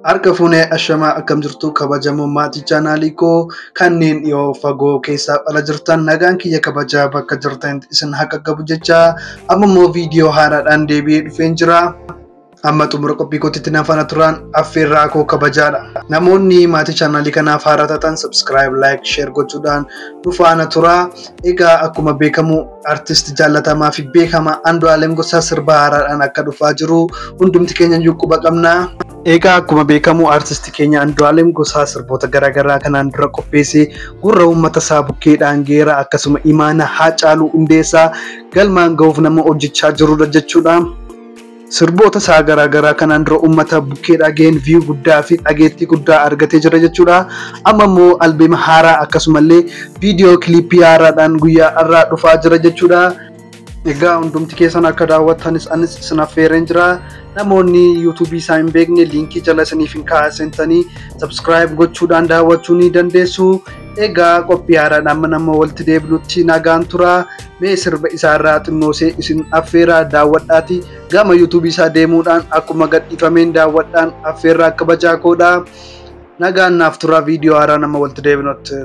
Harka fuunee ashamaa akkam jirtu kabajamoo maatii chaanaalii koo kanneen dhiyoo fagoo keessaa ala jirtan nagaan kiyya kabajaa bakka jirtanitti isin haa qaqqabu jecha amma immoo viidiyoo haaraadhaan deebi'ee dhufeen jira. Amma xumura qophii kootitti na faana turaa affeerraa koo kabajaadha. Namoonni maatii chaanaalii kanaaf haaraa taatan subscribe, like, share gochuudhaan nu faana turaa. Egaa akkuma beekamu Artist jaallatamaa fi beekamaa Andu'aalem Gosaa sirba haaraadhaan akka dhufaa jiru hundumti keenya iyyuu quba qabna. Egaa akkuma beekamu artisti keenya Andu'aalem Gosaa sirboota garaagaraa kanaan dura qopheessee gurra uummata isaa bukkee dhaangeera akkasuma imaana Haacaaluu Hundeessaa galmaan gahuuf nama hojjechaa jirudha jechuudha. Sirboota isaa garaa garaa kanaan dura uummata bukkee dhageen view guddaa fi dhageettii guddaa argatee jira jechuudha. Amma immoo albeema haaraa akkasumallee viidiyoo kiliippii haaraadhaan guyyaa har'aa dhufaa jira jechuudha. Egaa hundumti keessan akka daawwattanis anis isin affeereen jira. Namoonni yuutuubii isaa hin beekne liinkii jala isiniif hin kaa'a seentanii sabskiraayib gochuudhaan daawwachuu ni dandeessu. Egaa qophii haaraadhaan mana immoo walitti deebinutti nagaan tura. Mee sirba isaa irraa xinnoosee isin affeeraa daawwadhaatii gama yuutuubii isaa deemuudhaan akkuma gadhiifameen daawwadhaan affeerraa kabajaa koodha. Nagaan naaf turaa viidiyoo haaraa nama walitti deebinutti.